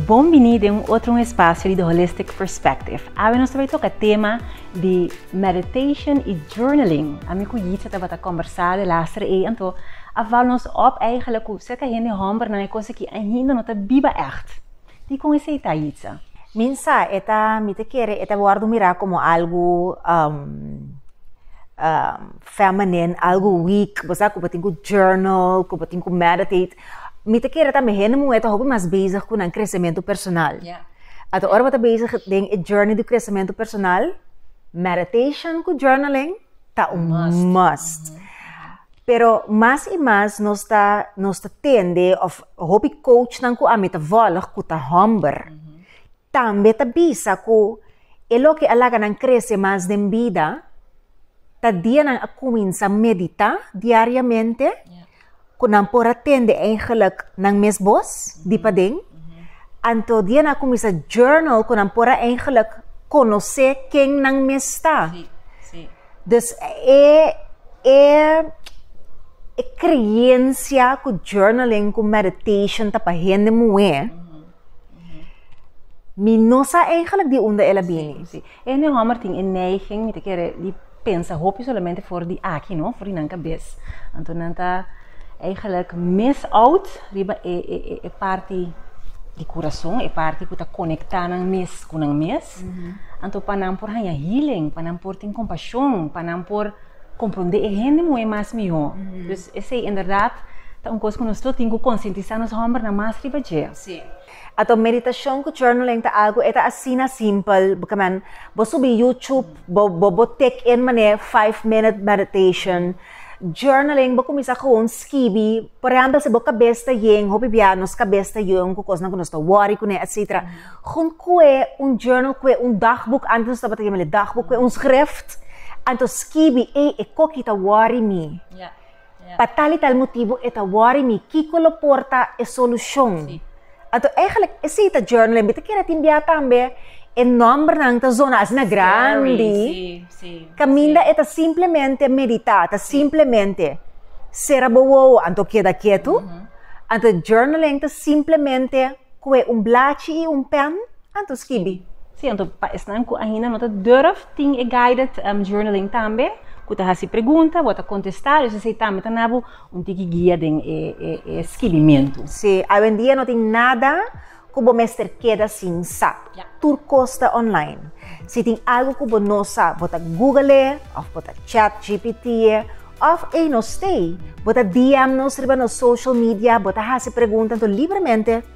Bon biní den un otro un espasio di The Holistic Perspective. Awe nos ta bai toca tema di meditation y journaling. Ami cu Yitzia tabata combersa de laster ey, anto a val nos op eigenlijk cu serca hende hombernan ey cosa ki ainda no ta biba echt. Dikon esei ta, Yitza? Min sa, e ta, mi ta kere, e ta wòrdu mirá komo algu feminine, algu weak. Bo sa ku bo tin ku journal, ku bo tin ku meditate. Mi ta kere tambe hende muhé ta hopi mas bezig ku nan kresementu personal. Ato ora bo ta bezig den e journey di kresementu personal, meditation ku journaling. ta un must. Pero mas i mas nos ta, nos ta tende, of hopi coachnan ku ami ta volg ku ta hòmber, tambe ta bisa ku e loke a laga nan krese mas den bida, ta dia nan a kuminsá meditá diariamente, ku nan por a tende eigenlik nan mes bos di paden. Anto di nan a kuminsá journal ku nan por a eigenlik konosé ken nan mes ta. Dus e e e kreensia ku journaling ku meditation ta pa hende muhé, mi no sa eigenlik di unda el a bini. E mi hòmber tin e neiging, mi ta kere, di pensa hopi solamente for di aki, no? For di nan kabes. Anto nan ta eigenlijk miss out riba e, e, e, e parti di kurason, e parti ku ta konektá nan mes ku nan mes. Anto pa nan por haña healing, pa nan por tin kompashon, pa nan por komprondé e hende moe mas mihó. Dus esei inderdat ta un kos ku nos lo tin ku konsientisá nos hòmbernan mas riba dje. Sí. Ato meditashon ku journaling ta algu e ta asina simpel, bkaman bo subi YouTube bo bo bo tik en mané five minute meditation. Journaling bo kuminsá gewoon skibi, por ehèmpel si bo kabes ta yen, hopi bia nos kabes ta yen ku kosnan ku nos ta wòri kuné etsetera, junt kue un journal kue un dagboek, antes nos tabata yamale dagboek, kue un sgrift, anto skibi, ey e koki ta wòri mi. Pa tal i tal motibu e ta wori mi kiko lo por ta e solushon. Anto eigenlijk esei ta journal en bita kere tin bia tambe e nòmbernan ta zona asina grandi. Kaminda e ta simplemente meditá, ta simplemente sera bo wowo anto keda ketu. Anto journaling ta simplemente kohe un blachi i un pèn. Anto skibi. Sí, anto pa esnan ku ainda no ta durf, tin e guided journaling tambe, ku ta hasi pregunta, bo ta kontestá, dus esei tambe ta na bo un tiki guia den e skibimentu. Sí, awendia no tin nada ku bo mester keda sin sa. Tur kos ta online. Si tin algu ku bo no sa, bo ta Google e, òf bo ta chat gpt e, òf ei nos stay, bo ta DM nos riba nos social media, bo ta hasi pregunta, anto libremente.